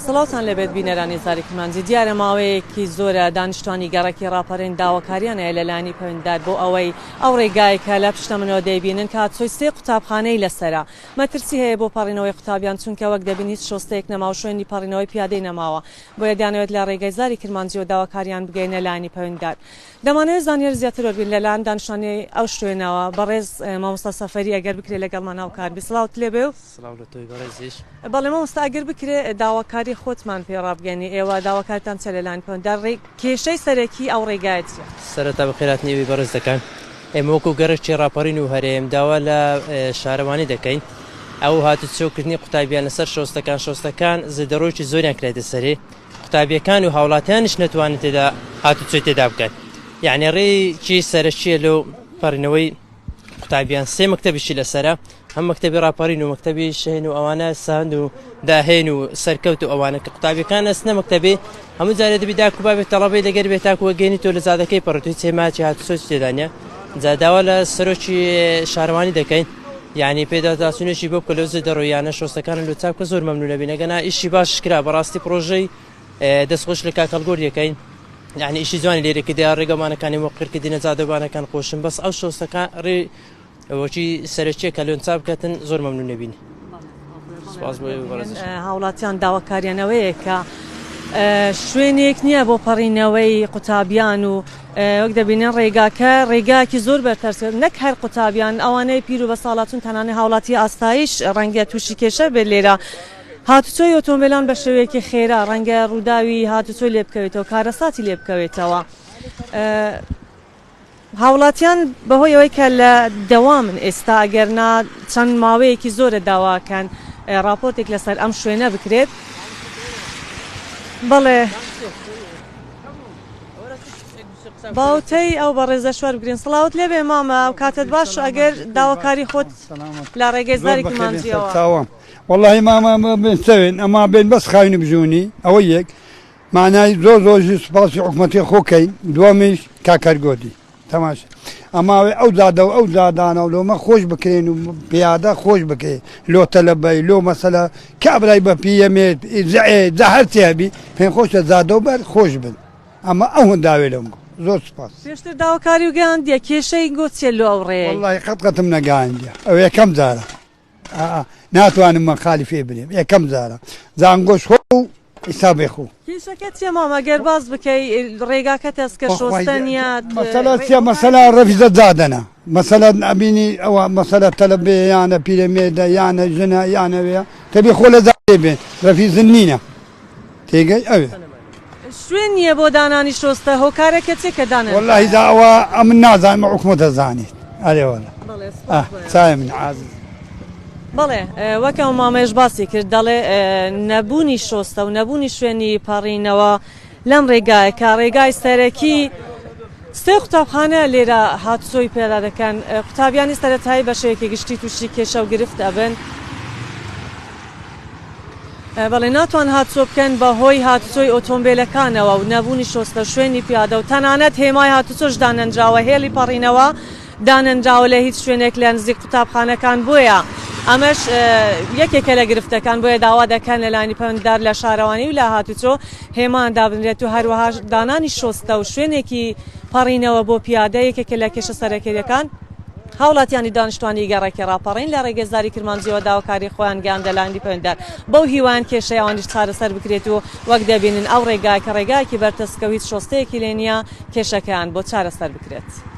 سڵاوتان لێبێت بینەرانی زاری کورمانجی دیارە ماوەیەکی زۆرە دانیشتوانی گەڕێکی ڕاپەرین داواکاریانەیە لەلایانی پەوندار بۆ ئەوەی ئەو ڕێگایکە لە پشتە منەوە دەیبینن کە چۆیسێ قوتابخانەی لەسەرە مەترسی هەیە بۆ پەڕینەوەی قوتابیان چونکە وەک دەبین هیچ شۆستەیەک نەما و شوێنی پەڕینەوەی پیادەی نەماوە بۆیە دەیانەوێت لە ڕێگای زاری کرمانجیەوە داواکاریان بگەینە لایانی پەوندار دەمانەوێت زانیاری زیاتر وەربگرین لە لایەن دانشتوانی ئەو شوێنەوە، بەڕێز مامۆستا سەفەری ئەگەر بکرێت لەگەڵمان هاوکار بیت سڵاوت لێ بێ و. سڵاو لە تۆی بەڕێزیش. بەڵێ مامۆستا ئەگەر بکرێت داواکاری خۆتمان پێ ڕابگەیەنی، ئێوە داواکاریتان چیە لە لایەن پەروەندار، ڕێ کێشەی سەرەکی ئەو ڕێگایە چیە؟ سەرەتا بەخێرهاتنی ئێوەی بەڕێز دەکەم، ئێمە وەکو گەڕەکی ڕاپەڕین و هەرێم داوا لە شارەوانی دەکەین ئەو هاتوچۆ کردنی قوتابیان لەسەر شۆستەکان شۆستەکان زێدەڕۆیەکی زۆریان کرایتە سەری قوتابیەکان و هاوڵاتیانیش نەتوانن تێدا هاتوچۆی تێدا بکەن یعنی ڕێکی سەرەکیە لەو پەڕینەوەی قوتابیان سێ مەکتتەبیشی لەسرە هەم مەکتتەبی ڕاپەڕین و مەکتتەبی شەین و ئەوانە ساند و داهێن و سەرکەوت و ئەوانە کە قوتابیەکان ئەسنە مەکتتەبی هەموو جارێ دەبی داکو بابێت تەڵەبەی لەگەر بێت تاکو وەگەێنی تۆ لە زادەکەی پڕێت هیچ سێماچی هاتوچۆ تێدانە جاداوا لە سەرۆکی شارەوانی دەکەین یانی پێدا داچونێکی بۆ بکە لەو زێدە ڕۆیانە شۆستەکانە لۆ چاپ کە زۆر مەمنونە بی نەگەنا ئیشی باش کرا بەڕاستی پڕۆژەی دەست خۆش لە کاک هەڵگۆر یەکەین یعنی ئیشی جوانی لێرە کە دیا ڕێگەمانەکانی مۆقر کە دینە جادەبانەکان خۆشن بەس ئەو شۆستەکان ڕێ وەکی سەرەکیە کە لۆن چاپ کەتن زۆر مەمنونە بین هاوڵاتیان داواکاریان ئەوەیە کە شوێنێک نییە بۆ پەڕینەوەی قوتابیان و وەک دەبینن ڕێگاکە ڕێگاکی زۆر بەرپەرس نەک هەر قوتابیان ئەوانەی پیر و بە ساڵاتون تەنانە هاوڵاتی ئاستایش ڕەنگە تووشی کێشە بێت لێرە هاتوچۆی ئۆتۆمبیلان بە شێوەیەکی خێرا ڕەنگە ڕووداوی هاتوچۆی لێ بکەوێتەوە کارەساتی لێ بکەوێتەوە. هاوڵاتیان بەهۆی ئەوەی کە لە دەوامن ئێستا ئەگەر نا چەند ماوەیەکی زۆرە داواکەن ڕاپۆرتێک لەسەر ئەم شوێنە بکرێت بەڵێ باوتەی ئەو بەڕێزە شوار بگرین سڵاوت لێبێ مامە و کاتت باش ئەگەر داواکاری خۆت لە ڕێگەی زاری کمانجیەوە واللهی مامە بێن سەوێن ئەما بێن بەس خاوێنی بژونی ئەوە یەک مانای زۆر زۆر ژی سوپاسی حکومەتی خۆ کەین دووەمیش کاکەر گۆدی تەماش ئەماوێ ئەو زادە و ئەو زادانە و لۆمە خۆش بکرێن و پیادە خۆش بکەێ لۆ تەلەبەی لۆ مەسەلا کابرای بە پیەمێت زە هەرچی هەبی پێم خۆشە زادە و بەر خۆش بن ئەمە ئەو هەنداوێ لەم گۆ زۆر سپاس پێشتر داواکاری و گەیاندیە کێشەی گۆچیە لۆ ئەو ڕێ واللهی قەت قەتم نەگەیاندیە ئەو یەکەم جارە ئاا ناتوانم من خالی فێ بنێم ئێکەم جارە زانگۆش خۆ و ئیستا بێ خۆ. کێشەکە چیە مامە گەر باس بکەی ڕێگاکە تەسکە شۆستە نیە مەسەلە چیە مەسەلە ڕەفیزە جادەنە مەسەلە ئەبینی ئەوە مەسەلە تەلەبێ یانە پیرەمێدە یانە ژنە یانەوێە تەبێ خۆ لە جادێ بێن ڕەفیزن نینە پێگەی ئەوێ. شوێن نیە بۆ دانانی شۆستە هۆکارەکە چێ کە دانەن. وەلاهی دا ئەوە ئەمن نازانم ئەو حکومەت ئەزانیت ئەرێ وەلا ئەه چایە من عازیز. بەڵێ وەک ئەو مامەیش باسی کرد دەڵێ نەبوونی شۆستە و نەبوونی شوێنی پەڕینەوە لەم ڕێگایە کە ڕێگای سەرەکی سێ قوتابخانە لێرە هاتوچۆی پێدا دەکەن قوتابیانی سەرەتایی بە شێوەیەکی گشتی تووشی کێشە و گرفت ئەبن بەڵێ ناتوان هاتچۆ بکەن بە هۆی هاتچۆی ئۆتۆمبێلەکانەوە و نەبوونی شۆستە شوێنی پیادە و تەنانەت هێمای هاتوچۆش دانەنراوە هێڵی پەڕینەوە دانەنراوە لە هیچ شوێنێک لە نزیک قوتابخانەکان بۆیە ئەمەش یەکێکە لە گرفتەکان بۆیە داوا دەکەن لە لانی پەندار لە شارەوانی و لە هاتوچۆ هێمان دابنرێت و هەروەها دانانی شۆستە و شوێنێکی پەڕینەوە بۆ پیادە یەکێکە لە کێشە سەرەکەیەکان هاوڵاتیانی دانشتوانی گەڕەکی ڕاپەڕین لە ڕێگەزداری کرمانجیەوە داواکاری خۆیان گەیاندە لایەنی پەیوەندار بەو هیوایەن کێشەی ئەوانیش چارەسەر بکرێت و وەک دەبینن ئەو ڕێگایە کە ڕێگایەکی بەرتەسکە و هیچ شۆستەیەکی لێ نییە کێشەکەیان بۆ چارەسەر بکرێت.